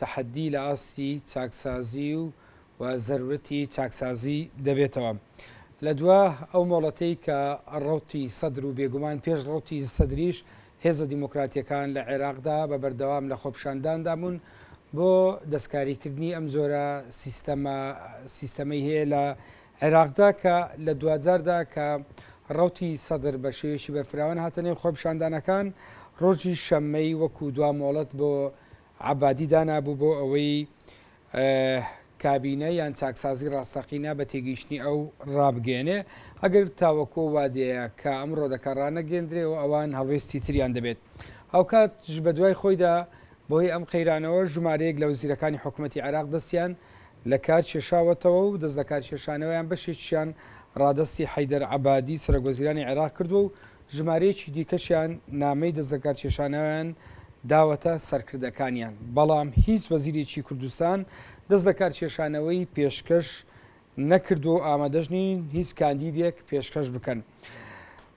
تەحەددی لە ئاستی چاکسازی و زەرورەتی چاکسازی دەبێتەوە لە دوا ئەو مۆڵەتەی کە ڕەوتی سەدر و بێگومان پێش ڕەوتی سەدریش هێزە دیموکراتیەکان لە عێراقدا بە بەردەوام لە خۆپیشانداندا بوون بۆ دەستکاریکردنی ئەم جۆرە سیستەمە سیستەمەی هەیە لە عێراقدا کە لە دواجاردا کە ڕەوتی سەدر بە شێوەیەکی بەرفراوان هاتە نێو خۆپیشاندانەکان ڕۆژی شەممەی وەکو دوا مۆڵەت بۆ عەبادی دانابوو بۆ ئەوەی کابینە یان چاکسازی ڕاستەقینە بە تێگەیشتنی ئەو ڕابگەیەنێ، ئەگەر تاوەکو ئەو وادەیە کە ئەمڕۆ دەکا ڕانەگەیەندرێ و ئەوان هەڵوێستی تریان دەبێت. هاوکاتش بە دوای خۆیدا بەهۆی ئەم قەیرانەوە ژمارەیەک لە وەزیرەکانی حکومەتی عێراق دەستیان لە کار کێشاوەتەوە و دەستلەکارکێشانەوەیان بەشێکیشیان ڕادەستی حەیدەر عەبادی سەرۆکوەزیرانی عێراق کردووە و ژمارەیەکی دیکەشیان نامەی دەستلەکارکێشانەوەیان داوەتە سەرکردەکانیان، بەڵام هیچ وەزیرێکی کوردستان دەست لە کارکێشانەوەی پێشکەش نەکردووە و ئامادەش نین هیچ کاندیدێک پێشکەش بکەن.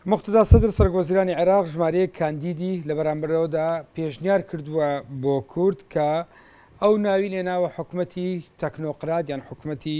موقتەدا سەدر سەرۆک وەزیرانی عێراق ژمارەیەک کاندیدی لە بەرامبەرەوەدا پێشنیار کردووە بۆ کورد کە ئەو ناوی لێناوە حکومەتی تەکنۆقرات یان حکومەتی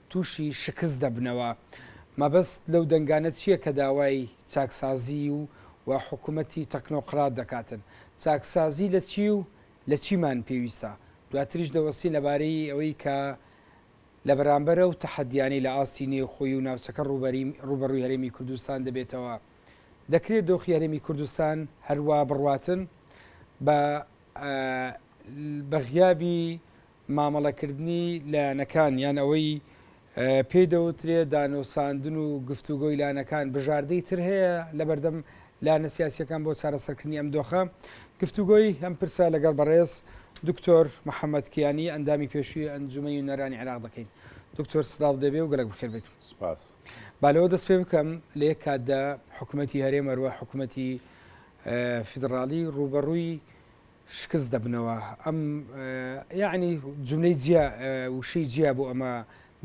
تووشی شکست دەبنەوە. مەبەست لەو دەنگانە چییە کە داوای چاکسازیی و و حکوومەتی تەکنۆقرات دەکاتن؟ چاکسازیی لە چی و لە چیمان پێویستە؟ دواتریش دەوەستین لەبارەی ئەوەی کە لە بەرامبەر ئەو تەحەدییانەی لە ئاستی نێوخۆی و ناوچەکە ڕووبەرووی هەرێمی کوردستان دەبێتەوە، دەکرێت دۆخی هەرێمی کوردستان هەروا بڕواتن بە بە غیابی مامەڵەکردنی لایەنەکان یان ئەوەی پێی دەوترێ دانوساندن و گفتوگۆی لایەنەکان بژاردەی تر هەیە لەبەردەم لایەنە سیاسیەکان بۆ چارەسەرکردنی ئەم دۆخە گفتوگۆی ئەم پرسە لەگەڵ بەڕێز دکتۆر محەممەد کیانی ئەندامی پێشوی ئەنجومی و نەرانی عراق دەکەین دکتۆر سلااو دەبێ و گەلک بخێر بێت سپاس بالەوە دەست پێ بکەم لە یەک کاتدا حکوومەتتی هەرێمەروە حکوومەتتی فیدراالی ڕوبەڕووی شکست دەبنەوە ئەم یەعنی جملەی جیا وشەی جیا بۆ ئەمە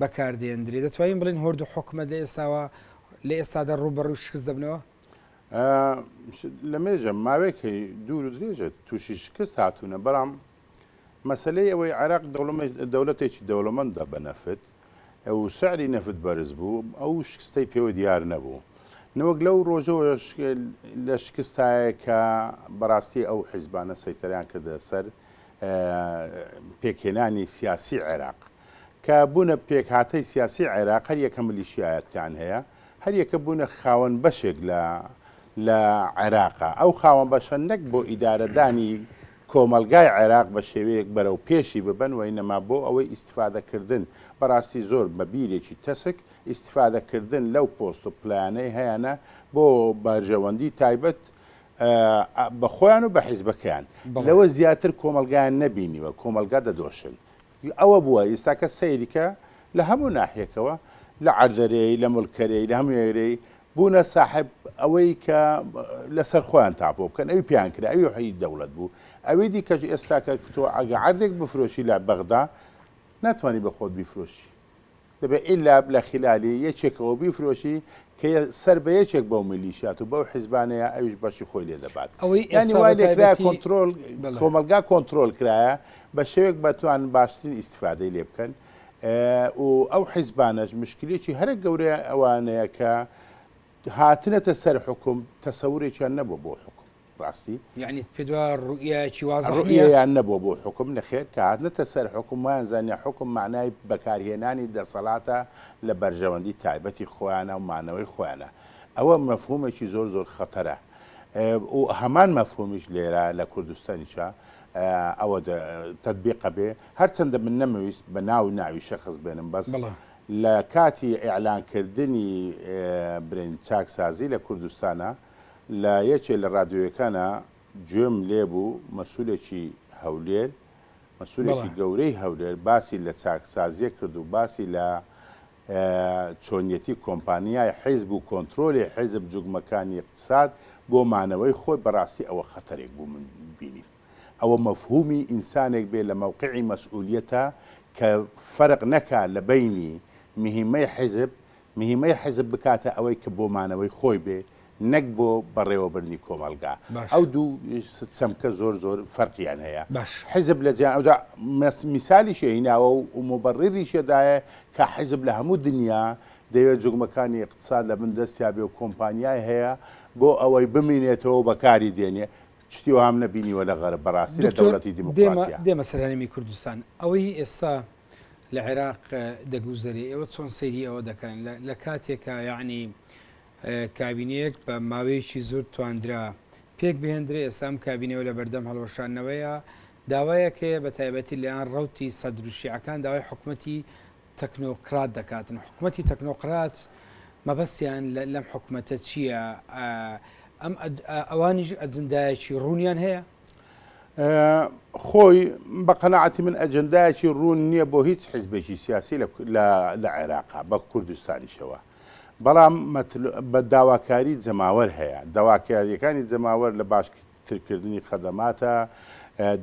بەکاردێندرێ دەتوانین بڵین هۆرد و حکومت لە ئێستاوە لە ئێستادا ڕوبەڕوی شکست دەبنەوە لە مێژە ماوەیەک هەی دوور و درێژێت تووشی شکست هاتوونە بەڵام مەسلەی ئەوەی عێراق دەوڵەتێکی دەوڵەمەندە بە نەفت و سعری نەفت بەرز بوو، ئەو شکستەی پێوە دیار نەبوو. نەوەک لەو رۆژەوەش لە شکستایە کە بەراستی ئەو حیزبانە سەیتەرەیان کردە سەر پێکهێنانی سیاسی عێراق. کە بوونە پێکهاتەی سیاسی عێراق هەر یەکە ملیشیایەتیان هەیە، هەر یەکە بوونە خاوەن بەشێک لە لە عێراق. ئەو خاوەن بەشە نەک بۆ ئیدارەدانی کۆمەڵگای عێراق بە شێوەیەک بەرەو پێشی ببەن وەینەما بۆ ئەوەی ئیستیفادە کردن بەڕاستی زۆر بە بیرێکی تەسک ئیستیفادە کردن لەو پۆست و پلانەی هەیانە بۆ بەرژەوەندی تایبەت بە خۆیان و بە حیزبەکەیان لەوە زیاتر کۆمەڵگایان نەبینیوە کۆمەڵگا دەدۆشن ئەوە بووە ئیستاکە سەیریکە لە هەموو ناحیەکەوە لە عەردەرێی لە ملکەرێی لە هەموێرەی بوونە ساحب ئەوەی کە لەسەر خۆیان تاپۆ بکەن ئەوی پیان کرا ئەوی حی دەوڵەت بوو ئەوی دیکەش ئێستاکە کتۆ ئەگە عردێک بفرۆشی لە بەغدا ناتوانانی بە خۆت بیفرۆشی دەبێت ئیلا لە خیلالی یەکێکەوە بیفرۆشی کە سەر بە یەکێک بەو میلیشیات و بەو حیزبانەیە ئەویش بەشی خۆی لێ دەبات ئەوەی یانی وای لێکرا کۆنترۆل کۆمەلگا کۆنترۆل کرایە بە شێوێک بەتوان باشترین ئیسیفادەی لێ بکەن و ئەو حیزبانەش مشکلێکی هەرە گەورەیە ئەوانەیە کە هاتنەتە سەر حکوم تەسەورێکیان نەبوو بۆ حکوم ڕاستی یعنی پێت وایە ڕوئیایەکی واضح نییە؟ ڕوئیەیان نەبووە بۆ حوکم، نەخێر کە هاتنەتە سەر حوکم وایان زانیە حوکم مەعنای بەکارهێنانی دەسەڵاتە لە بەرژەوەندی تایبەتی خۆیانە و مانەوەی خۆیانە. ئەوە مەفهوومێکی زۆر زۆر خەتەرە و هەمان مەفهوومیش لێرە لە کوردستانیشا ئەوە تەتبیق ئەبێ، هەرچەندە من نەمویست بە ناو و ناوی شەخس بێنم بەس لە کاتی ئیعلان کردنی برێن چاکسازی لە کوردستانا، لە یەکێ لە ڕادیۆیەکانا گوێم لێ بوو مەسولێکی هەولێر، مەسولێکی بەڵێ. گەورەی هەولێر باسی لە چاکسازییەک کرد و باسی لە چۆنیەتی کۆمپانیای حیزب و کۆنترۆلی حیزب جوگمەکانی ئیقتساد بۆ مانەوەی خۆی بەڕاستی ئەوە خەتەرێک بوو من بینیم ئەوە مەفهومی ئینسانێک بێ لە مەوقعی مەسئولیەتا کە فەرق نەکا لە بەینی مهمەی حیزب مهیمەی حیزب بکاتە ئەوەی کە بۆ مانەوەی خۆی بێ نەک بۆ بەڕێوەبردنی کۆمەڵگا. باش. ئەو دوو س چەمکە زۆر زۆر فەرقیان هەیە. باش. حیزب لە جیا ئەوجا مس میسالیشی هیناوە و و موبەڕیریشی دایە کە حیزب لە هەموو دنیا دەیەوێ جوگمەکانی ئیقتساد لە بن دەستیا بێ و کۆمپانیای هەیە بۆ ئەوەی بمینێتەوە و بە کاری دێنێ. شتی وام نەبینیوە لە غەرب بەڕاستی لە دکتۆر دەوڵەتی دێمە دیموکڕاتیا. دێمە سەر هەرێمی کوردستان. ئەوەی ئێستا لە عێراق دەگوزەرێ ئێوە چۆن سەیری ئەوە دەکەن لە کاتێکە یعنی کابینەیەک بە ماوەیەکی زۆر تواندرا پێک بهێندرێ ئێستام کابینەوە لە بەردەم هەڵوەشانەوەیە داوایەک هەیە بە تایبەتی لەیان ڕوتی سەدروشیعەکان داوای حکوومەتتی تەکنۆکرات دەکاتن حکوومەتتی تەکنۆقرات مەبەستیان لەم حکوومەتە چییە؟ ئەم ئەوانیش ئەجندایەکی ڕوونیان هەیە خۆی بە قەناعەتی من ئەجندایەکی ڕوون نییە بۆ هیچ حیزبێکی سیاسی لە عێراقا بە کوردستانیشەوە بەڵام بە داواکاری جەماوەر هەیە داواکاریەکانی جەماوەر لە باش ترکردنی خەدەماتە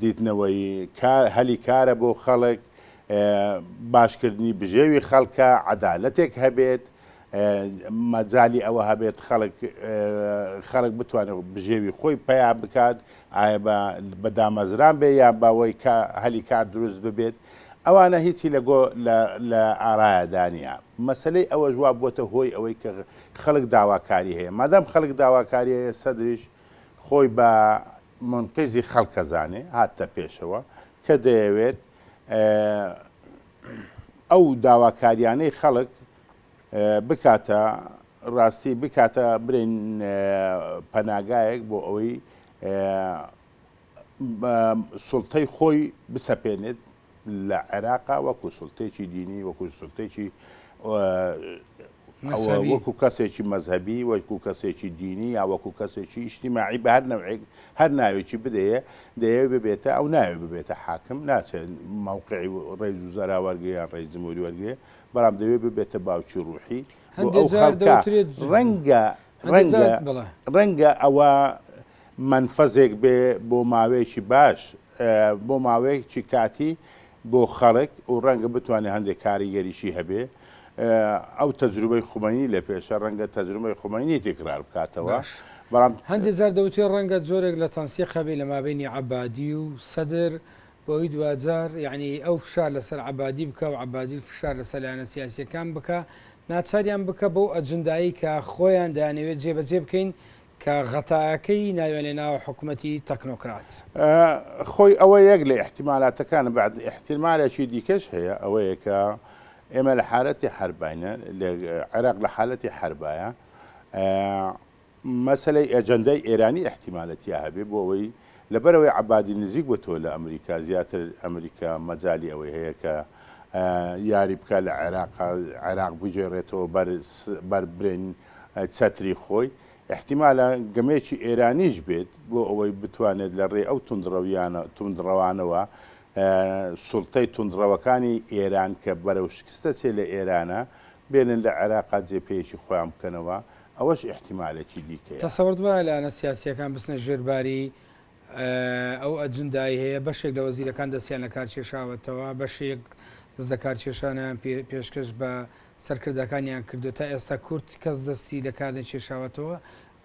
دیتنەوەی هەلی کارە بۆ خەڵک باشکردنی بژێوی خەڵکە عەدالەتێک هەبێت مەجالی ئەوە هەبێت خەڵک خەڵک بتوانێت بژێوی خۆی پیا بکات ئایا بە دامەزران بێ یان باوەی کە هەلی کار دروست ببێت ئەوانە هیچی لە گۆ لە ئارایەدانە مەسلەی ئەوە جواب بۆتە هۆی ئەوەی کە خەڵک داواکاری هەیە مادەم خەڵک داواکاری هەیە سەدریش خۆی بە منقیزی خەڵکەزانێ هاتە پێشەوە کە دەیەوێت ئەو داواکاریانەی خەڵک بکاتە ڕاستی بکاتە برێن پەناگایەک بۆ ئەوەی سڵتەی خۆی بسەپێنێت لە عێراقا وەکو سڵتێکی دینی وەکو سڵتێکی ئەوە وەکو کەسێکی مەزهەبی، وەکو کەسێکی دینی یا وەکو کەسێکی ئیجتیماعی بە هەر نەوعێک هەر ناوێکی بدەیێ دەیەوێ ببێتە ئەو ناوێ ببێتە حاکم ناچێت مەوقعی ڕێز و زەرا وەرگرێ یان ڕێز جمهوری وەرگرێ بەڵام دەیەوێ ببێتە باوکی ڕووحی بۆ ئەو خەڵکە ڕەنگە ڕەنگە ڕەنگە ئەوە مەنفەزێک بێ بۆ ماوەیەکی باش بۆ ماوەیەکی کاتی بۆ خەڵک و ڕەنگە بتوانێ هەندێ کاریگەریی هەبێ. ئەو تەجروبەی خومەینی لە پێشە، ڕەنگە تەجروبەی خومەینی تیکرار بکاتەوە، باش. بەڵام. هەندێ جار دەوترێ ڕەنگە جۆرێک لە تەنسیق هەبێ لە مابەینی عەبادی و سەدر، بەوەی دواجار یەعنی ئەو فشار لەسەر عەبادی بکا و عەبادیش فشار لەسەر لایەنە سیاسییەکان بکا، ناچاریان بکا بەو ئەجندایەی کە خۆیان دەیانەوێ جێبەجێ بکەین، کە غەتایەکەی ناوێنێ ناوە حکومەتی تەکنۆکرات. خۆی ئەوە یەک لە ئیحتیمالاتەکانە، بەعد ئیحتیمالێکی دیکەش هەیە، ئەوەیە کە ئێمە لە حالەتی حەرباینە، عێراق لە حالەتی حەربایە، مەسەلەی ئەجەندای ئێرانی ئیحتیمالە تیا هەبێ، بۆ ئەوەی لەبەرئەوەی عەبادی نزیک بۆتەوە لە ئەمریکا، زیاتر ئەمریکا مەجالی ئەوەی هەیە کە یاری بکا لە عێراقا، عێراق بگێڕێتەوە بەر برین چەتری خۆی، ئیحتیمالە گەمەیەکی ئێرانیش بێت، بۆ ئەوەی بتوانێت لە ڕێی ئەو توندڕەویانە، توندڕەوانەوە، سوڵتەی توندڕەوەکانی ئێران کە بەرەو شکست دەچێت لە ئێرانە، بێنن لە عێراقا جێپێیەکی خۆیان بکەنەوە، ئەوەش ئیحتیمالێکی دیکەیە. تەسەورت وایە لایەنە سیاسییەکان بچنە ژێر باری ئەو ئەجندای هەیە بەشێک لە وەزیرەکان دەستیان لە کار کێشاوەتەوە، بەشێک دەست لە کار کێشانیان پێشکەش بە سەرکردەکانیان کردو تا ئێستا کورد کەس دەستی لە کار نەکێشاوەتەوە،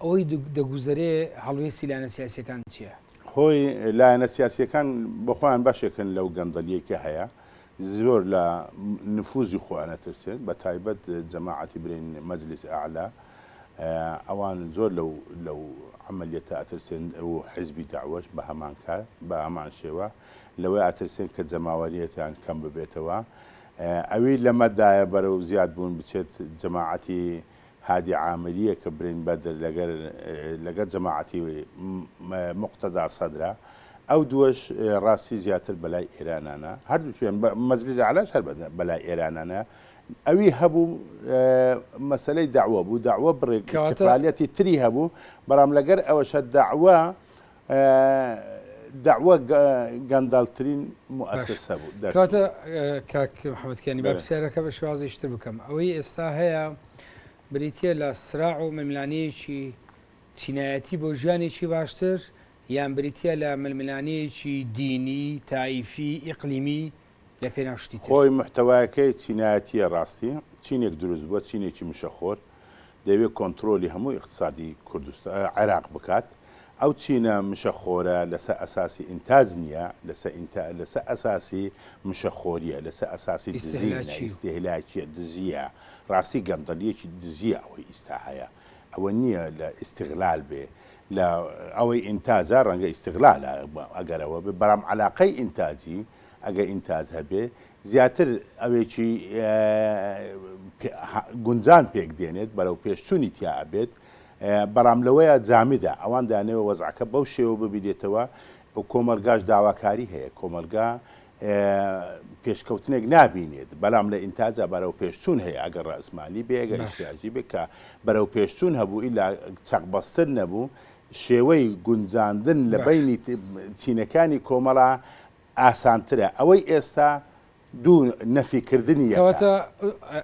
ئەوەی دەگوزەرێ هەڵوێستی لایەنە سیاسییەکان چییە؟ خۆی لایەنە سیاسییەکان بۆخۆیان بەشێکن لەو گەندەڵییەی کە هەیە، زۆر لە نفوزی خۆیان ئەترسێن بە تایبەت جەماعەتی برین مەجلیس ئەعلا ئەوان زۆر لەو لەو عەمەلیەتە ئەترسێن و حیزبی دەعوەش بە هەمان کار بە هەمان شێوە لەوەی ئەترسێن کە جەماوەریەتیان کەم ببێتەوە ئەوی لەمەدایە بەرەو زیاد بوون بچێت جەماعەتی هادی عامریە کە برین بەدر لەگەر لەگەر جەماعەتی موقتەدا سەدرە ئەو دووەش ڕاستی زیاتر بەلای ئێرانانە هەردووکیان مەجلیس ئەعلاش هەر بەلای ئێرانانە ئەوی هەبوو مەسەلەی داوە بوو داوە بڕێک کەواتە- استقلالیەتی تری هەبوو بەڵام لەگەر ئەوەشە داوە دەعوە گەندەڵترین موئەسەسە بوو دەرچوو. کەواتە کاک محەمەد کیانی با بەلێ. پرسیارەکە بە شێوازێکی تر بکەم، ئەوەی ئێستا هەیە بریتییە لە سراع و ململانێیەکی چینایەتی بۆ ژیانێکی باشتر یان بریتییە لە ململانێیەکی دینی، تائیفی، ئیقلیمی؟ لە پێناو شتی تر. خۆی محتەوایەکەی چینایەتیە ڕاستی چینێک دروست بوە چینێکی مشەخۆر دەیەوێت کۆنترۆلی هەموو ئیقتسادی کوردستان عێراق بکات ئەو چینە مشە خۆرە لەسە ئەساسی ئینتاج نیە لەسە ئینتا لەسە ئەساسی مشە خۆریە لەسە ئەساسی دزی نە ئیستهلاکیە دزیە ڕاستی گەندەڵیەکی دزیە ئەوەی ئیستا هەیە ئەوە نیە لە ئیستغلال بێ لە ئەوەی ئینتاجە ڕەنگە ئیستغلالە ئەگەر ئەوە بێ بەڵام عەلاقەی ئینتاجی ئەگە ئینتاج هەبێ زیاتر ئەوێکی گونجان پێک دێنێت بەرەو پێشچوونی تیا ئەبێت بەڵام لەوەیە جامیدا ئەوان دانەوە وەزعەکە بەو شێوە ببیدێتەوە و کۆمەلگاش داواکاری هەیە کۆمەلگا پێشکەوتنێک نابینێت بەلام لە ئینتاجا بەرەو پێشچوون هەیە ئەگەر ڕئزمالی بێگە ئیشتیاجی بێ کە بەرەو پێشچوون هەبوو ئیلا چەقبەستن نەبوو شێوەی گونجاندن لە باش. بەینی چینەکانی کۆمەڵە ئاسانترە. ئەوەی ئێستا دوو نەفی کردنی یەکە. کەواتە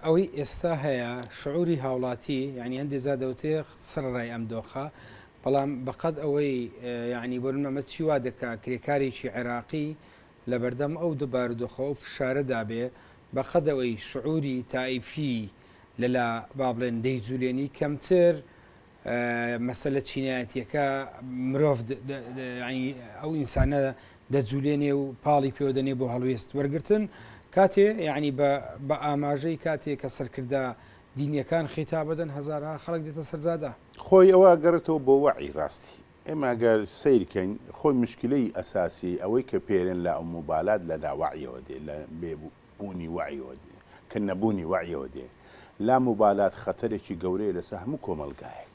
ئەوەی ئێستا هەیە شعوری هاوڵاتی یانی هەندێ جار دەوترێ سەرەڕای ئەم دۆخە بەڵام بەقەد ئەوەی یانی بۆ نمونە ئەمە چی وا دەکا کرێکارێکی عێراقی لەبەردەم ئەو دو بارودۆخە ئەو فشارەدا بێ بەقەد ئەوەی شعوری تائیفی لەلا با بڵێن دەیجولێنی کەمتر مەسەلە چینایەتیەکە مرۆڤ یعنی ئەو ئینسانە دەجوولێنێ و پاڵی پێوە دەنێ بۆ هەڵوێست وەرگتن کاتێ یعنی بە ئاماژەی کاتێک کە سەرکردە دینیەکان خیتا بدەن هزارها خەڵک دێتە سەرجادە خۆی ئەوە گەڕێتەوە بۆ وەعی ڕاستی ئێمە گەر سیرکەین خۆی مشکلەی ئەساسی ئەوەی کە پێرێن لە ئەو موبالات لە لاوەعیەوە دێ لە بێبوو بوونی وەعیەوە دێ، کە نەبوونی وەعیەوە دێ، لاموبالات خەتەرێکی گەورەیە لەسەر هەموو کۆمەڵگایەک.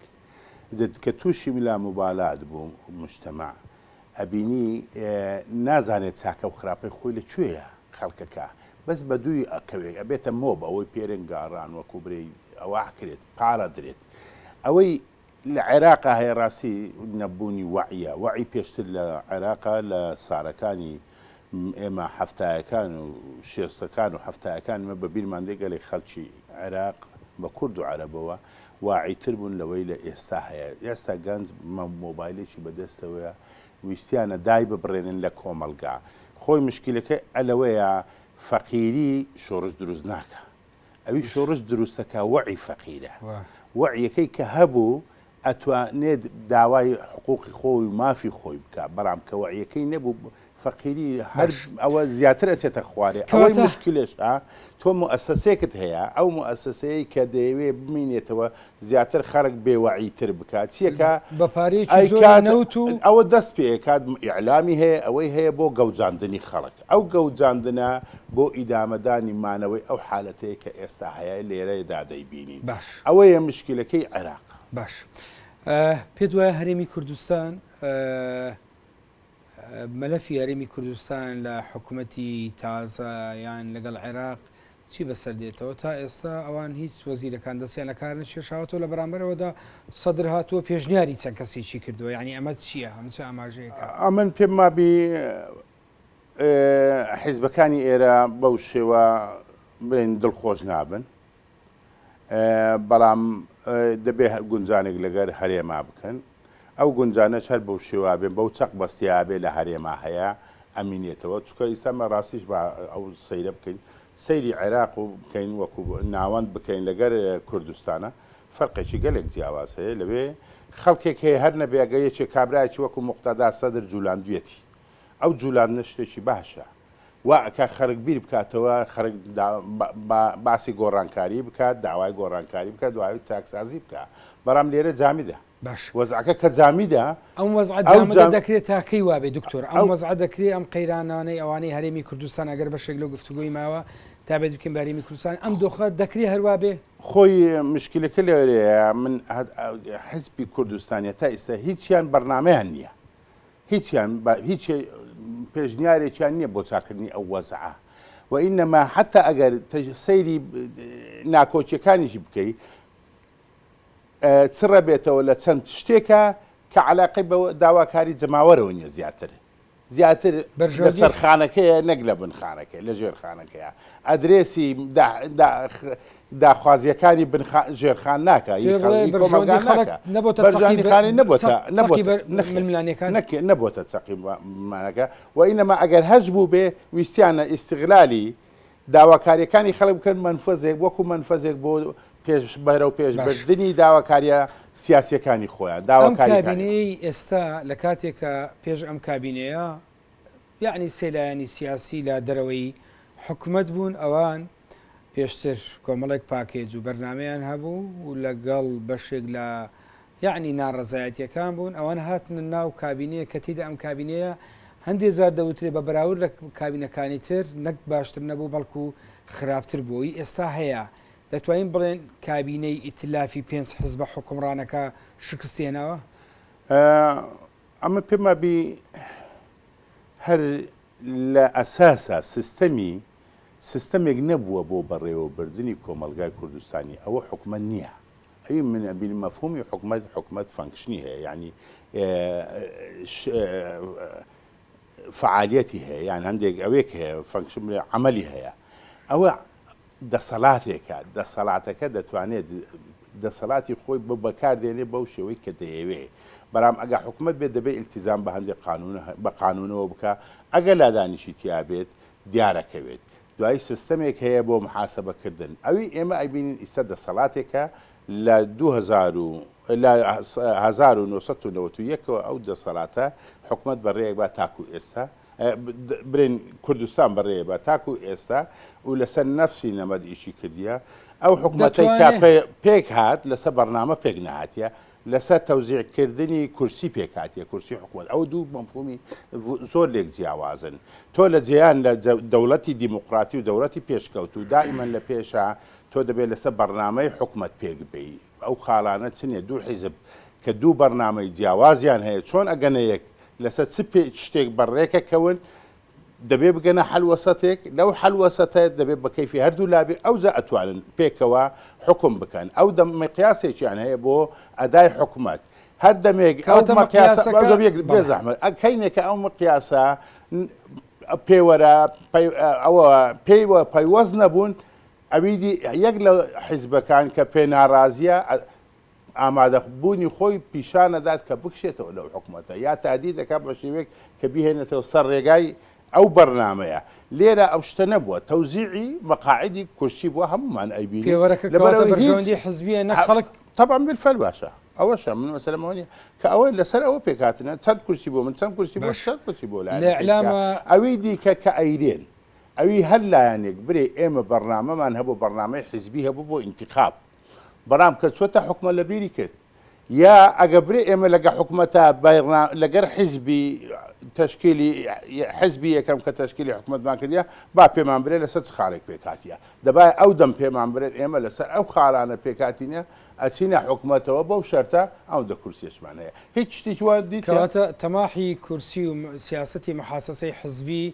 دد کە تووشی لاموبالات بوو موجتەمەع، ئەبینی نازانێ چاکە و خراپەی خۆی لە کوێیە، خەڵکەکە بەس بە دووی ئەکەوێ، ئەبێتە مۆب، ئەوەی پێرێن گاڕان وەکوو برێی ئەوە ئەکرێت، پاڵ ئەدرێت. ئەوەی. لە عێراقا هەیە ڕاستی نەبوونی وەعیە وەعی پێشتر لە عێراقا لە سارەکانی ئێمە حەفتایەکان و شێستەکان و حەفتایەکان مە بە بیرمان دێ گەلێک خەلکی عێراق بە کورد و عەرەبەوە واعی تر بوون لەوەی لە ئێستا هەیە ئێستا گەنج مۆبایلێکی بەدەستەوەیە ویستیانە دای ببڕێنن لە کۆمەلگا خۆی مشکلەکەی ئەلەوەیە فەقیری شۆرش دروست ناکە ئەوی شۆڕش دروستەکە وەعی فەقیرە وەعیەکەی کە هەبوو ئەتوانێت داوای حقوقی خۆی و مافی خۆی بکە بەڵام کە وەعیەکەی نەبوو فەقیری هەر ئەوە زیاتر ئەچێتە خوارێ ئەوەی مشکلش تۆ مؤسسەیەکت هەیە ئەو مؤسسەیە کە دەیەوێ بمینێتەوە زیاتر خەرک بێ وەعی تر بکات چیەکە بە پارەیەکی زۆر ئەیکات نەوت و ئەوە دەست پێ ئەکات ئیعلامی هەیە ئەوەی هەیە بۆ گەوجاندنی خەڵک ئەو گەوجاندنە بۆ ئیدامەدانی مانەوەی ئەو حالەتەیە کە ئێستا هەیە لێرەیەدا دەیبینین باش ئەوەیە مشکلەکەی عێراق. باش ئە پێت وایە هەرێمی کوردستان ئە مەلەفی هەرێمی کوردستان لە حکومەتی تازە یان لەگەڵ عێراق چی بەسەر دێتەوە تا ئێستا ئەوان هیچ وەزیرەکان دەستیان لە کار نەکێشاوەتەوە لە بەرامبەرەوەدا سەدر هاتووە پێشنیاری چەند کەسێکی کردووە ینی ئەمە چییە هەمچە ئاماژەیەەکە ئەمن پێم مابی حیزبەکانی ئێرە بەو شێوە بڵێن دڵخۆش نابن بەڵام دەبێ گونجانێک لەگەر هەرێما بکەن ئەو گونجانەش هەر بەو شێوابێن بەو چەق بەستیابێ لە هەرێما هەیە ئەمینێتەوە چکە ئیستا مە ڕاستیش بە ئەو سەیرە بکەین سەیری عێراق و بکەین وەکو ناوەند بکەین لەگەر کوردستانە فەرقێکی گەلێک جیاواز هەیە لەوێ خەڵکێک هەیە هەر نەبێگە یەکێک کابراایکی وەکو مختدا سەدر جولاندویەتی ئەو جولاندنە شتێکی باشە وا ئەکات خەرک بیر بکاتەوە خەرک باسی گۆڕانکاری بکات داوای گۆڕانکاری بکە دوای چاکسازی بکە بەرام لێرە جامیدە باش وەزعەکە کە جامیدە ئەم وەزع جامدە دەکرێت تاکەی وابێ دکتۆر ئەم وەزع دەکرێت ئەم قەیرانانەی ئەوانەی هەرێمی کوردستان ئەگەر بەشێک لەو گفتوگۆی ماوە تا بێت بکەین بەرێمی کوردستان ئەم دۆخە دەکرێت هەروە بێ خۆی مشکلەکە لەێرەیە من حزبی کوردستانە تا ئیستا هیچیان بەرنمەیان نییە هیچیان بە هیچ پێشنیارێکیان نییە بۆ چاکردنی ئەو وەزعە و ئینەما حتا ئەگەر سەیری ناکۆکیەکانیشی بکەی چڕە بێتەوە لە چەند شتێکە کە علاقی بە داواکاری جەماوەرەوە نیە زیاتر زیاتر لە سەرخانەکەیە نەک لە بنخانەکە لە ژێرخانەکەیە ئەدرێسی داخوازیەکانی بن خان ژێرخان ناکە هی خەڵ هی کۆمەڵگا ناکە بەرژانی خانی نەبووتە نەبووتە ململانێکان نەکێ نەبووتە چەقی مانەکە و ئینەما ئەگەر هەج بوو بێ ویستیانە ئیستغلالی داواکاریەکانی خەڵک بکەن منفەزێک وەکو منفەزێک بۆ پێش بەرە و پێش بردننی داواکاریە سیاسەکانی خۆیان داواکاریەکانی ئێستا لە کاتێکە پێش ئەم کابینەیە یعنی سێلایانی سیاسی لە دەرەوەی حکومت بوون ئەوان پێشتر کۆمەڵێک پاکێج و بەرنامەیان هەبوو و لەگەڵ بەشێک لە یعنی ناڕەزایەتیەکان بوون ئەوان هاتنە ناو کابینەیە کە تیدا ئەم کابینەیە هەندێک جار دەوترێ بە بەراورد لە کابینەکانی تر نەک باشتر نەبوو بەڵکو خراپتر بووی ئێستا هەیە دەتوانین بڵێن کابینەی ئیتلافی پێنج حزبە حکومڕانەکە شکستێنەوە ئەمە پێمابی هەر لە ئەساسا سیستەمی سیستەمێک نەبووە بۆ بەڕێوەبردنی کۆمەڵگای کوردستانی ئەوە حکومەت نیە ئەوی من ئەبینم مەفهومی حکومەت حکومەت فەنکشنی هەیە یعنی فعالیەتی هەیە یان هەندێک ئەوێک هەیە فەنکشن عملی هەیە ئەوە دەسەلاتێکە، دەسەلاتەکە دەتوانێت دەسەلاتی خۆی بۆ بەکار دێنێ بەو شێوەی کە دەیەوێ، بەلام ئەگە حکومەت بێت دەبێ ئیلتیزام بە هەندێ قانون بە قانونەوە بکا، ئەگە لادانیشی تیا بێت دیارەکەوێت، دوایی سستەمێک هەیە بۆ محاسەبە کردن، ئەوی ئێمە ئەیبینین ئیستا دەسەلاتێکە لە دوو هەزار و لە هەزار و نۆ سەد و نەوەت و یەک ەوە ئەو دەسەلاتە حکومەت بە رێیەک با تاکو ئێستا برێن کوردستان بەڕێ بە تاکو ئێستا و لەسەر نەفسی نەمەد ئیشی کردیە ئەو حکوومەتی کا پێک هاات لەسەر بەرنامە پێک نهاتە لەسەر تەوزیعکردنی کورسی پێکاتە کورسی حکوومەت ئەو دوو مەفهومی زۆر لێک جیاوازن تۆ لە جیان لە دەوڵەتی دیموکراتی و دەوڵەتی پێشکەوت و دائیمەن لە پێشە تۆ دەبێت لەسەر بەرنمەی حکومت پێک بی ئەو خاڵانە چنە دوو حیزب کە دوو بەڕنامەی جیاوازیان هەیە چۆن ئەگەنە یەک لەسە چ پێ چ شتێک بە ڕێکە کەون دەبێ بگەنە حەلوەسەتێک لەو حەلوەسەتە دەبێ بە کەیفی هەردوو لابێ ئەو جا ئەتوانن پێکەوە حکوم بکەن ئەو دەم مقیاسێکیان هەیە بۆ ئەدای حکومەت هەر دەمێک ئەو مقیاسەکە بێ زەحمەت ئەکەینێکە ئەو مقیاسە پێوەرە ئەوە پێی وە پەیوەست نەبوون ئەوی دی یەک لە حیزبەکان کە پێ نارازییە ئامادە بوونی خۆی پیشان ئەدات کە بکشێتەوە لەو حکومەتە یا تادید دەکات بە شێوەیەک کە بیهێنێتەوە سەر ڕێگای ئەو بەرنامەیە لێرە ئەو شتە نەبووە تەوزیعی مەقاعدی کورسی بووە هەمومان ئەیبینی پێوەرەکە لەبەر کەواتە ئەوەی هیچ بەرژەوەندی حزبیە نەک خەڵک طبعا بالفعل باشە ئەوەشە من مەسەلەم ئەوە نیە کە ئەوە لەسەر ئەوە پێکهاتنە چەند کورسی بۆ من چەند کورسی بۆ باش چەند کورسی بۆ لایەنەکەی دیکە. الإعلام ئەوی دیکە کە ئەیرێن ئەوی هەر لایەنێک برێ ئێمە بەرنامەمان هەبوو بەرنامەی حیزبی هەبوو بۆ ئینتیخاب برام کە چۆتە حوکمە لە بیری کرد یا ئەگە برێ ئێمە لەگە حکومەتە بەرنا لەگەر حیزبی تشکیلی حزبی یەکەم کە تشکیلی حکومتمان کردە با پێمان برێ لەسەر چ خارێک پێکاتە دەبای ئەو دەم پێمان برێت ئێمە لەسەر ئەو خارانە پێکاتینە ئەچینە حکومەتەوە بەو شەرتە ئەو دە کورسێشمان هەیە هیچ شتێکی وان دیکەواتە تەماحی کورسی و سیاستی محاسەسەی حزبی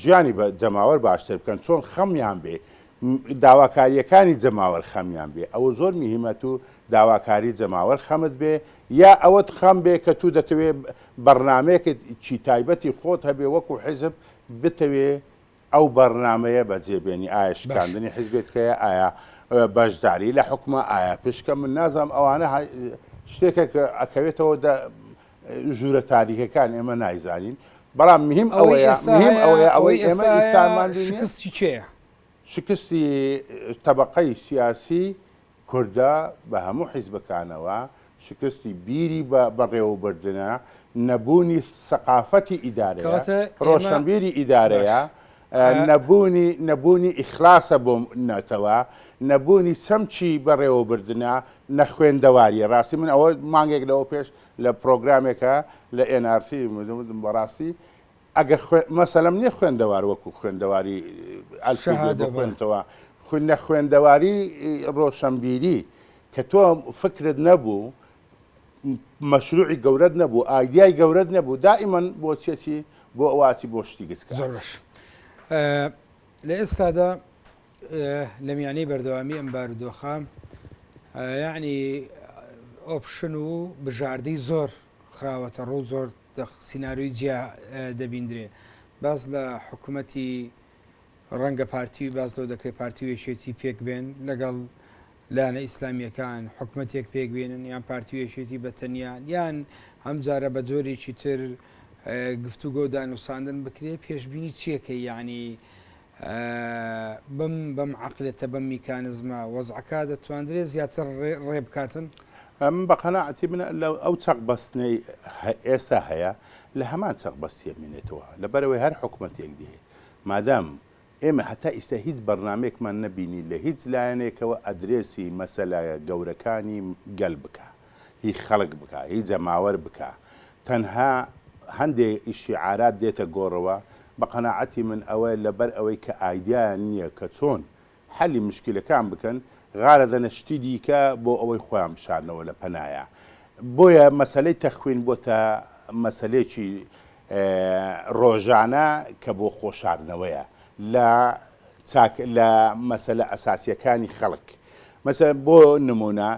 ژیانی بە جەماوەر باشتر بکەن چۆن خەمیان بێ داواکاریەکانی جەماوەر خەمیان بێ ئەوە زۆر میهمەت و داواکاری جەماوەر خەمت بێ یا ئەوەت خەم بێ کە تو دەتەوێ بەرنمەیەکت چی تایبەتی خۆت هەبێ وەکو حزب بتەوێ ئەو بەرنمەیە بەجێبێنی ئایا شکاندنی حزبێت کەە ئایا بەشداری لە حکومە ئایا پشکە من نازانم ئەوانە شتێکە کە ئەکەوێتەوە ژوورە تاریکەکان ئێمە نایزانین بەڵام مهم ئەوەیە مهم ئەوەیە ئەوەی ئێمە ئیسامان شکستی چێە شکستی طبقەی سیاسی کوردە بە هەموو حیزبەکانەوە شکستی بیری بە بەڕێوەبردنە نەبوونی سەقافەتی ئیدارەوە ڕۆشنبیری ئیدارەیە نەبوونی نەبوونی ئیخلاسە بۆ نەتەوە، نەبوونی چەمکی بەڕێوەبردنە، نەخوێندەوارییە. ڕاستی من ئەوە مانگێک لەوە پێش لە پرۆگرامێکا لە ئێن ئار تی وتم بەڕاستی ئەگەر مەسەلەم نییە خوێندەوار وەکو خوێندەواری ئەلفی بێ بخوێنتەوە، نەخوێندەواری ڕۆشنبیری کە تۆ فکرت نەبوو مەشروعی گەورەت نەبوو ئایدیای گەورەت نەبوو دائیمەن بۆ چێتی بۆ ئەواتی بۆ شتی گچکە زۆر باش لە ئێستادا لە میانەی بەردەوامی ئەم بارودۆخە یعنی ئۆپشن و بژاردەی زۆر خراوەتە ڕوو زۆر سینناروی جیا دەبیندرێ باز لە حکوومەتی ڕەنگە پارتی باز لەو دەکرێت پارتی وێشێتی پێک بێن لەگەڵ لایەنە ئیسلامییەکان حکومەتێک پێک بێنن یان پارتی و یەکێتی بە تەنیا یان ئەم جارە بە جۆرێکی تر گفتوگۆ و دانوساندن بکرێ پێشببینی چیەکە یعنی بم بەم عقلێتە بەم میکانزمە وەزعەکە دەتواندرێ زیاتر ڕێ بکاتن ئەم بە قەنەعەتی من لە ئەو چەق بەستنەی ئێستا هەیە لە هەمان چەق بەستیە مێنێتەوە لەبەرەوەی هەر حکوومەتێک دێ مادام ئێمە هەتا ئیستا هیچ بەرنامەیەکمان نەبینی لە هیچ لایەنێکەوە ئەدرێسی مەسەلە گەورەکانی گەل بکا هی خەڵک بکا هی جەماوەر بکا تەنها هەندێ شیعارات دێتە گۆڕەوە بە قەناعەتی من ئەوە لە بەر ئەوەی کە ئایدیایان نیە کە چۆن حەلی مشکیلەکان بکەن غارە دەنە شتی دیکە بۆ ئەوەی خۆیان بشارنەوە لە پەنایا بۆیە مەسەلەی تەخوین بۆتە مەسەلێکی ڕۆژانە کە بۆ خۆشاردنەوەیە لە چاک لە مەسەلە ئەساسیەکانی خەڵک مەسەلەن بۆ نمونە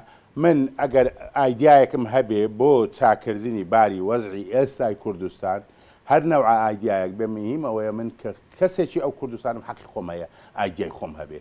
من ئەگەر ئایدیایەکم هەبێ بۆ چاکردنی باری وەزعی ئێستای کوردستان هەر نەوعە ئایدیایەک بێ مهیم ئەوەیە من کە کەسێکی ئەو کوردستانم حەقی خۆم هەیە ئایدیای خۆم هەبێ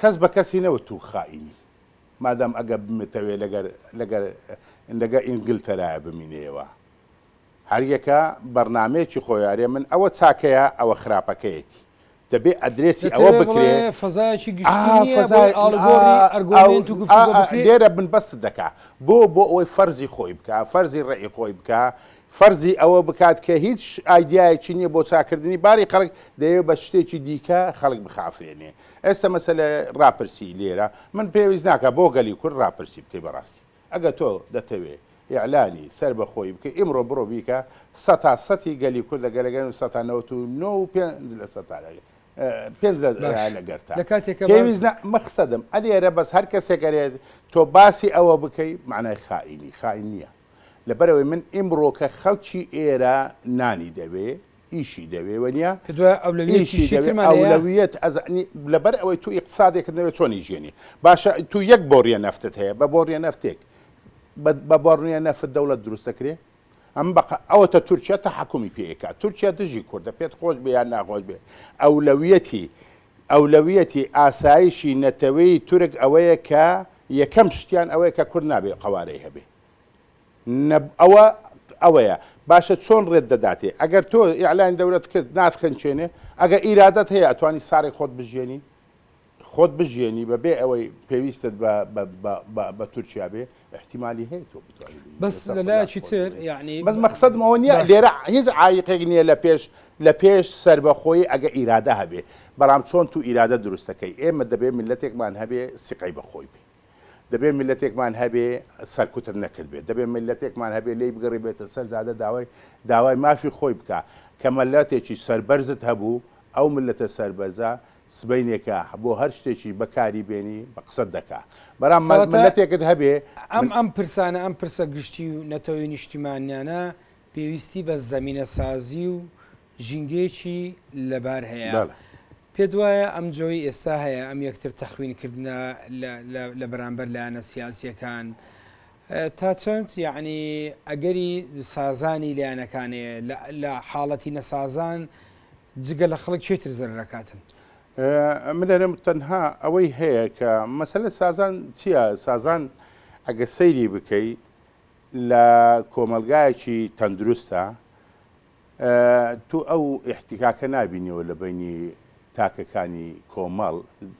کەس بە کەسی نەوت تو خائینی. مادام ئەگە بمتەوێ لەگەر لەگەر لەگە ئینگلتەرایە بمینێیەوە هەر یەکە بەرنامەیەکی خۆی ئەرێ من ئەوە چاکەیە ئەوە خراپەکەیەتی دەبێ ئەدرێسی ئەوە بکرێ ئا فەزای ئا ئا لێرە من بەست دەکا بۆ بۆ ئەوەی فەرزی خۆی بکا فەرزی ڕێی خۆی بکا فەرزی ئەوە بکات کە هیچ ئایدیایەکی نییە بۆ چاکردنی باری خەڵک دەیەوێ بە شتێکی دیکە خەڵک بخافرێنێ ئێستا مەسەلە ڕاپرسی لێرە من پێویست ناکا بۆ گەلی کورد ڕاپرسی بکەی بەڕاستی ئەگە تۆ دەتەوێ ئیعلانی سەربەخۆیی بکەی ئیمڕۆ بڕۆ بیکە سەتا سەتی گەلی کوردە گەلەگەل سەتا نەوەت و نۆ و پێنج لە سەتا پێنج لە باش لەگەرتا لە کاتێکە باز پێویست نە مەخسەدم ئەلێرە بەس هەر کەسێک گەرێت تۆ باسی ئەوە بکەی معنای خائینی خائین نییە لەبەرەوەی من ئیمڕۆکە خەڵکی ئێرە نانی دەوێ ئیشی دەوێ وەنیا کردوە ئەولەویەتی شیترمان هەیە ئەولەویەت ئەزانی لەبەر ئەوەی تو ئیقتسادێکت نەوێ چۆن ئیژیێنی باشە تو یەک بۆریە نەفتت هەیە بە بۆریە نەفتێک بە بۆرنیە نەفت دەوڵەت دروست دەکرێ ئەم بەق ئەوەتە تورکیا تا حکومی پێکات تورکیا دژی کوردە پێت خۆش بێ یان ناخۆش بێ ئەولەویەتی ئەولەویەتی ئاسایشی نەتەوەی تورک ئەوەیە کە یەکەم شتیان ئەوەیە کە کورد نابێ قەوارەی هەبێ نە ئەوە ئەوەیە باشە چۆن ڕێت دەداتێ ئەگەر تۆ ئیعلان دەورەت کرد ناتخنچێنێ ئەگە ئیرادەت هەیە ئەتوانی سارێک خۆت بژێنی خۆت بژێنی بە بێ ئەوەی پێویستت بە تورکیا بێ احتیممالی هەیە تۆ بتوانین بەس لەلایەکی تر یعنی بەس مەخصدم ئەوە نیە لێرە هیچ عیقێک نییە لە پێش لە پێش سربەخۆی ئەگە ئیرادە هەبێ بەڵام چۆن تو ئیرادە دروستەکەی ئێمە دەبێ ملەتێکمان هەبێ سقەی بەخۆی بێ دەبێ میللەتێکمان هەبێ سەرکوتت نەکردبێت، دەبێ میللەتێکمان هەبێ لێی بگەڕیبێتە سەر جادە داوای داوای مافی خۆی بکا، کە مەللەتێکی سەربەرزت هەبوو، ئەو میللەتە سەربەرزە سبەینێکە بۆ هەر شتێکیش بە کاری بێنی بە قسەت دەکا، برام مە کەواتە میللەتێکت هەبێ ئەم ئەم پرسانە، ئەم پرسە گشتی و نەتەوەی نیشتیمانیانە پێویستی بە زەمینەسازی و ژینگەیەکی لەبار هەیە. بەڵێ. پێت وایە ئەم جۆی ئێستا هەیە ئەم یەکتر تەخوین کردنە لە بەرامبەر لایەنە سیاسیەکان تا چەند یعنی ئەگەری سازانی لایەنەکانێ لە حاڵەتی نەسازان جگە لە خەڵک چێتر زەرەکاتن من لەرم تەنها ئەوەی هەیە کە مەسلە سازان چییە سازان ئەگە سەیری بکەی لە کۆمەلگایەکی تەندروستە تۆ ئەو ئیحتیکاکە نابینیەوە لە بەینی تاکەکانی کۆمەڵ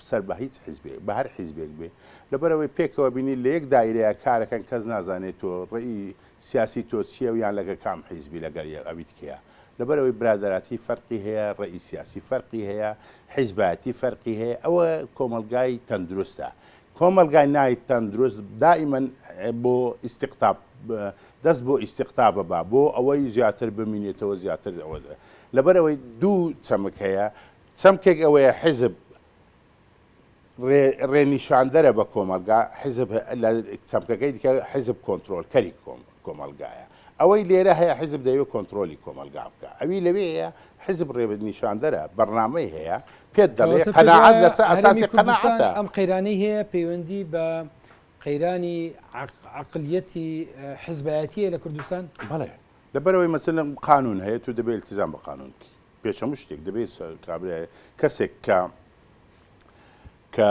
سەر بە هیچ حیزبێک بە هەر حیزبێک بێ لەبەرەوەی پێکەوە بینی لە یەک دایرەیە کارەکەن کەس نازانێت تۆ ڕێی سیاسی تۆ چیە و یان لەگە کام حیزبی لەگەر یە ئەویت کەیە لەبەرەوەی برادراتی فەرقی هەیە ڕێی سیاسی فەرقی هەیە حیزبایەتی فەرقی هەیە ئەوە کۆمەلگای تەندروستە کۆمەڵگای نایت تەندروست دائیمەن بۆ ئیستیقتاب دەست بۆ ئیستیقتابە با بۆ ئەوەی زیاتر بمینێتەوە زیاتر ئەوە دە لەبەر ئەوەی دوو چەمک هەیە چەمکێک ئەوەیە حیزب ڕێنیشاندەرە بە کۆمەلگا حیزب لە چەمکەکەی دیکە حیزب کۆنتترۆلکەری کۆم کۆمەڵگایە ئەوەی لێرە هەیە حیزب دەیەوێت کۆنترۆلی کۆمەڵگا بکا ئەوی لەوێ هەیە حیزب ڕێبت نیشاندەرە بەرنامەی هەیە پێت دەڵێ قەناعەت لەسەر ئەساسی قەناعەتە ئەم قەیرانەی هەیە پەیوەندی بە قەیرانی عقلیەتی حزبایەتیە لە کوردستان بڵێ لەبەرەوەی مەسلم قانون هەیە تو دەبێت التزام بە قانون بکی پێچەمو شتێک دەبێت کابراە کەسێک کە کە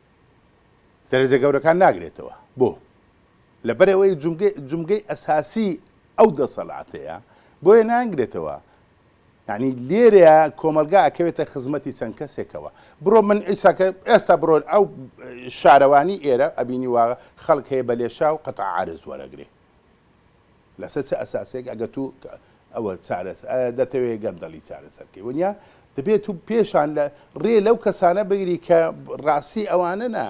دەرەجە گەورەکان ناگرێتەوە، بۆ؟ لەبەرئەوەی جومگە جومگەی ئەساسی ئەو دەسەڵاتەیە، بۆیە ناینگرێتەوە، یانی لێرەیا کۆمەڵگا ئەکەوێتە خزمەتی چەند کەسێکەوە، بڕۆ من ئیستا کە ئێستا بڕۆ ئەو شارەوانی ئێرە ئەبینی وا خەڵک هەیە بە لێشاو قەتع عارز وەرەگرێ، لەسەر چ ئەساسێک ئەگەر تو ئەوە چارەس ئایا دەتەوێ گەندەڵی چارەسەر کەی وەنیا دەبێ تو پێشان لە رێ لەو کەسانە بگری کە راستی ئەوانەنە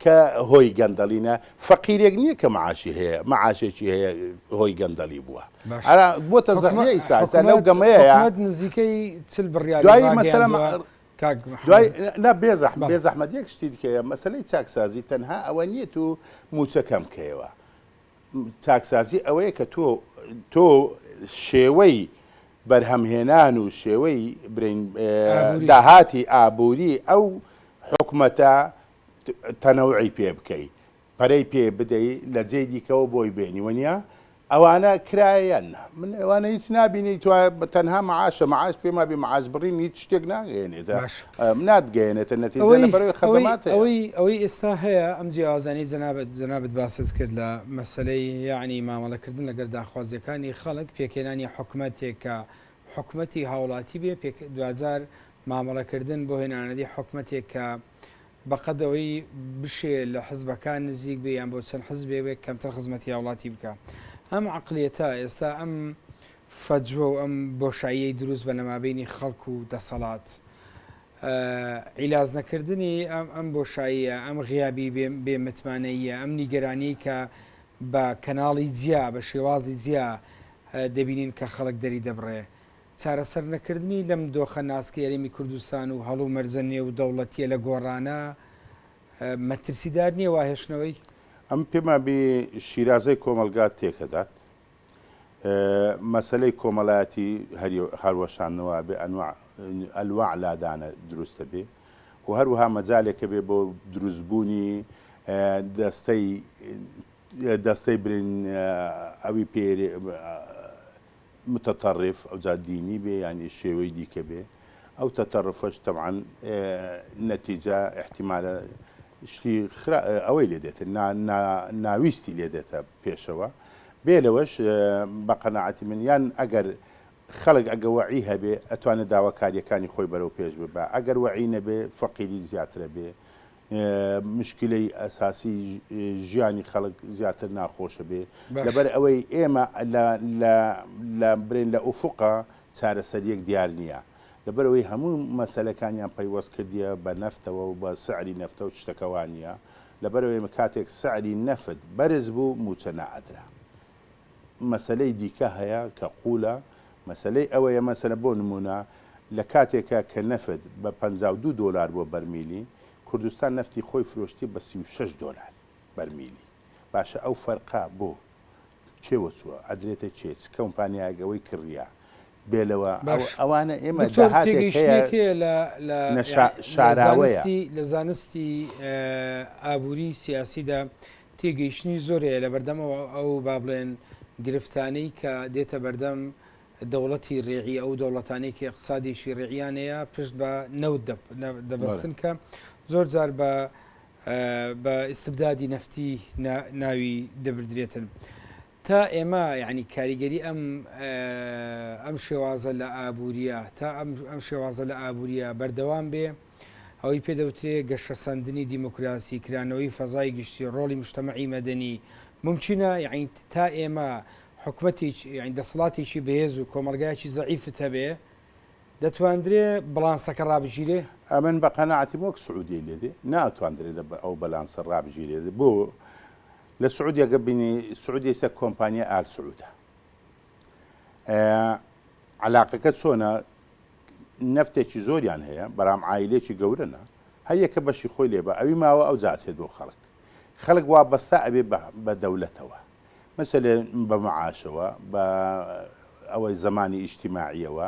کە هۆی گەندەڵینە فەقیرێک نییە کە معاشی هەیە معاشێکی هەیە هۆی گەندەڵی بووە ئەرا بۆتە زەحمە ئیسا لەو گەمەیە نزیکەی چل بڕیار دوای مەسەلە لا بێزەح بێ زەحمەت یەک شتی دیکەیە مەسلەی چاکسازی تەنها ئەوە نییە تو موچەکەم کەیەوە چاکسازی ئەوەیە کە تۆ تۆ شێوەی بەرهەم هێنان و شێوەی برین داهاتی ئابووری ئەو حکومەتە تەنەوعی پێ بکەی پەرەی پێ بدەی لە جێ دیکەەوە بۆی بێنی وەنیا ئەوانە کرایەن من ئەوانە هیچ نبینی تو تەنها معاشە معاش پێما بێ معاش بڕین هیچ شتێک ناگەێنێت ناتگەیەنێتە نەتیجە لە بەرەوی خەدەمات هەیە. ئەوەی ئەوەی ئێستا هەیە ئەم جیاوازانەی جەنابت جەنابت باست کرد لە مەسەلەی یەعنی مامەڵەکردن لەگەر داخوازیەکانی خەڵک پێکهێنانی حکومەتێک کە حکومەتی هاوڵاتی بێ پێک دواجار مامەڵەکردن بۆ هێنانەدی حکومەتێک کە بەقەد ئەوەی بشێ لە حزبەکان نزیک بێ یان بۆ چەند حزبێ بێ کەمتر خزمەتی هاوڵاتی بکە ئەم عقلیەتە ئێستا ئەم فجوە و ئەم بۆشاییەی دروست بە لەمابەینی خەڵک و دەسەڵات. عیلاج نەکردنی ئەم ئەم بۆشاییە، ئەم غیابی بێ بێ متمانەییە، ئەم نیگەرانیەی کە بە کەناڵی جیا، بە شێوازی جیا دەبینین کە خەڵک دەری دەبڕێ. چارەسەر نەکردنی لەم دۆخە ناسکەی هەرێمی کوردستان و هەڵ و مەرجە نێو دەوڵەتیە لە گۆڕانە مەترسیدار نیە وا هێشتنەوەی؟ ئەم پێمان بینی شیرازەی کۆمەڵگا تێکەدات. مەسەلەی کۆمەلایەتی هەروەشانەوە بێ ئەنواع لادانە دروستەبێ و هەروەها مەجالێکە بێ بۆ دروستبوونی دەستەی دەستەی برین ئەوی پێ متتەڕف ئەو جا دینی بێ یانی شێوەی دیکە بێ ئەو تەتەڕفەش تەعاان نەتیجا احتیمالە شتی ئەوەی لێ دێتن ناویستی لێ دێتە پێشەوە. بێ لەوەش بە قەناعەتی من یان ئەگەر خەڵک ئەگە وەعی هەبێ ئەتوانێ داواکاریەکانی خۆی بەرەو پێش ببا ئەگەر وەعی نەبێ فەقیری زیاترە بێ مشکلەی ئەساسی ژیانی خەڵک زیاتر ناخۆشە بێ لەبەر ئەوەی ئێمە لە برێن لە ئوفقا چارەسەریەک دیار نییە لەبەرەوەی هەموو مەسلەکانیان پەیوەست کردیە بە نەفتەوە و بە سعری نەفتە و شتەکەوانە لەبەر ئەوەی کاتێک سعری نەفت بەرز بوو مووچە نائەدرا مەسەلەی دیکە هەیە کە قوولە مەسەلەی ئەوەیە مەسەلە بۆ نموونە لە کاتێکە کە نەفت بە پەنجا و دوو دۆلار بووە بەرمیلی کوردستان نەفتی خۆی فرۆشتی بە سی و شەش دۆلار بەرمیلی باشە ئەو فەرقە بۆ کێوە چووە ئەدرێتە کێ چ کەومپانیایەک ئەوەی کڕییە بێ لەوە ئەوانە ئێمە شاراوەیە لە زانستی ئابووری سیاسیدا تێگەیشتنی زۆرەیە لە بەردەمەوە ئەو با بڵێن گرفتانەی کە دێتە بەردەم دەوڵەتی ڕێعی ئەو دەوڵەتانێکی اقتصادیشی ڕێعیانەیە پشت بە نەوت دەبستن کە زۆر جار بە بە ئیسبدادی نەفتی ناوی دەبدرێتن. تا ئێمە یانی کاریگەری ئەم ئەم شێوازە لە ئابووریە تا ئەم شێوازە لە ئابووریە بەردەوام بێ ئەوەی پێدەوترێ گەشە سندنی دیموکراسی کرانەوەی فەزای گشتی ڕۆڵی مشتتەمەعی مەدەنی ممچینە یعنی تا ئێمە حکومەتی دەسڵاتێکی بەهێز و کۆمەلگایکی زەعیفت هەبێ دەتواندرێ بڵانسەکە ڕابگیرێ؟ ئەمن بە قەناعەتیم وەک سعودیەی لێدێ ناتواندرێ ئەو بەلانسە ڕابگیرێ بۆ؟ لە سعودیە گە بینی سعودیە سە کۆمپانیا ئال سعودە علاقەکە چۆنە نفتێکی زۆریان هەیە بەرام عیلێکی گەورەە هەیەکە بەشی خۆی لێ بە ئەوی ماوە ئەو جاچێت بۆ خەڵک خەڵک وا بەستا ئەبێ بە دەولەتەوە مەسەێ بە معاشەوە بە ئەوەی زمانی ئیشتیماعیەوە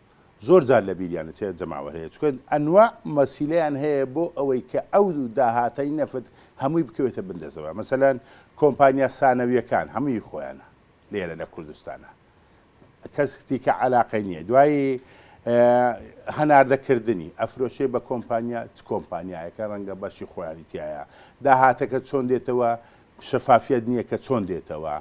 زۆر جار لە بیریان دەچێت جەماوەر هەیە چونکە ئەنواع مەسیلەیان هەیە بۆ ئەوەی کە ئەو داهاتەی نەفت هەمووی بکەوێتە بندەزەوە مەسەلەن کۆمپانیا سانەویەکان هەمووی خۆیانە لێرە لە کوردستانە کەس دیکە علاقەی نییە دوایی هەناردەکردنی ئەفرۆشێ بە کۆمپانیا چ کۆمپانیایەکە ڕەنگە بەشی خۆیانی تایە داهاتەکە چۆن دێتەوە شەفافیەت نیە کە چۆن دێتەوە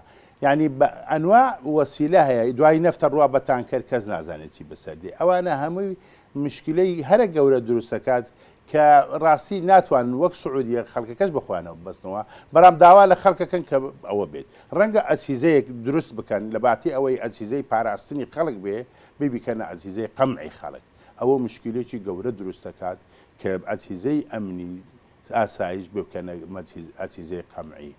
یانی بە ئەنواع وەسیلە هەیە دوای نەفتە ڕوا بە تانکەر کەس نازانێت چی بەسەر دێ ئەوانە هەمووی مشکلەی هەرە گەورە دروست دەکات کە ڕاستی ناتوانن وەک سعودیە خەڵکەکەش بەخۆیانەوە ببەستنەوە بەڵام داوا لە خەڵکەکەن کە ئەوە بێت ڕەنگە ئەسیزەیەک دروست بکەن لە باتی ئەوەی ئەسیزەی پاراستنی خەڵک بێ بیبیکەنە ئەسیزەی قەمعی خەڵک ئەوە مشکلێکی گەورە دروست دەکات کە ئەسیزەی ئەمنی ئاسایش ببکەنە ئەتیزەی قەمعی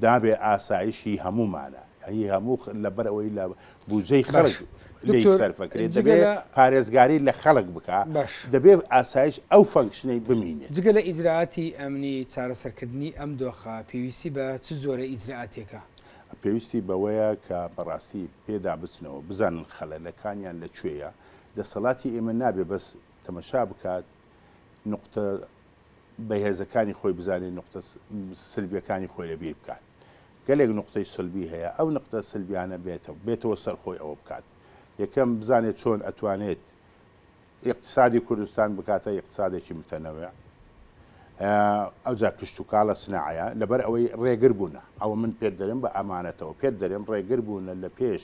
دابێ ئاسایش هی هەموومانە هی هەموو لەبەر ئەوەی لە بودجەی خەڵک لی سەرفەکرێت دەبێت پارێزگاری لە خەڵک بکە دەبێت ئاسایش ئەو فەنکشنەی بمینێت جگە لە ئیجرراعاتی ئەمنی چارەسەرکردنی ئەم دۆخە پێویستی بە چ زۆرە ئیجرراعاتێکە پێویستی بەوەیە کە بەڕاستی پێدا بچنەوە بزانن خەلەلەکانیان لە کوێیە دەسەڵاتی ئێمە نابێ بەس تەمەشا بکات نقطە بەهێزەکانی خۆی بزانێت نقطە سلبیەکانی خۆی لەبیر بکات گەلێک نقطەی سلبی هەیە ئەو نقطە سلبیانە بێتەوە بێتەوە سەر خۆی ئەوە بکات یەکەم بزانێت چۆن ئەتوانێت اقتصادی کوردستان بکاتە اقتصادێکی متەنەوە ئەوجا کشت و کاڵە سناعەیە لەبەر ئەوەی ڕێگر بوونە ئەوە من پێت دەرێن بە ئەمانەتەوە پێت دەرێن ڕێگر بوونە لە پێش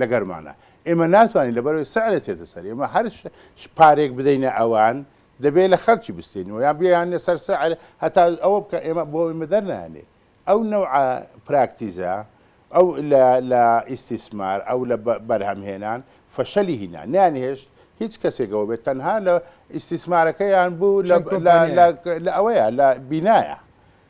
لەگەرمانە ئێمە ناتوانین لەبەرەوەی سعرە چێتە سەر ئێمە هەر پارێک بدەینە ئەوان دەبێت لە خەرکی بستێنەوە یان بیانە سەر سعر هەتا ئەوە بکە ئێمە بۆ ئێمە دەرنانێ ئەو نەوع پراکتیزە ئەو لە ئیسیسمار ئەو لە بەرهەمهێنان فەشەلی هینا نیانهێشت هیچ کەسێکەوە بێت تەنها لە ئیسیسمارەکەیان بوو لە ئەوەیە لە بینایە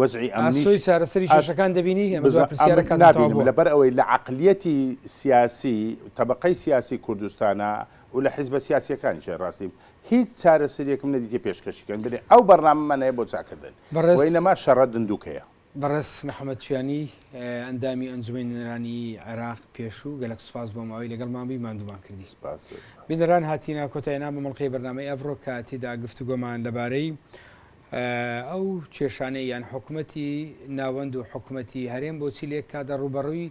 وەزعی ئەمنیش ئاسۆی چارەسەری کێشەکان دەبینی؟ ئەمە دوای پرسیارە کاتم تەواو بووە. نابینم لەبەر ئەوەی لە عەقلیەتی سیاسی تەبەقەی سیاسی کوردستانا و لە حیزبە سیاسیەکانیشە ڕاستی هیچ چارەسەریەکم نەدیتیە پێشکەشی کەن بنێ ئەو بەرنامەمان هەیە بۆ چاکردن و ئینەما شەڕە دندوکەیە. بەڕێز محەمەد چویانی ئەندامی ئەنجومەی نوێنەرانی عێراق پێشوو گەلەک سوپاس بۆ ماوەی لەگەڵمان بووی ماندوومان کردی. سپاس. بینەران هاتینە کۆتای نامە مەڵقەی بەرنامەی ئەڤڕۆ کە تیدا گفتوگۆمان لەبارەی، ئەو کێشانەی یان حکومەتی ناوەند و حکومەتی هەرێم بۆچی لە یەک کاتدا ڕووبەڕووی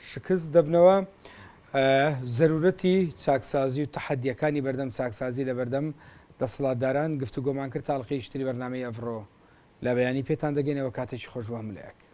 شکست دەبنەوە؟ زەرورەتی چاکسازی و تەحەدیەکانی بەردەم چاکسازی لە بەردەم دەسڵاتداران گفتوگۆمان کرد تا ئەڵقەی شتری بەرنامەی ئەڤڕۆ لە بەیانی پێتان دەگەینەوە کاتێکی خۆش بۆ هەموولایەک.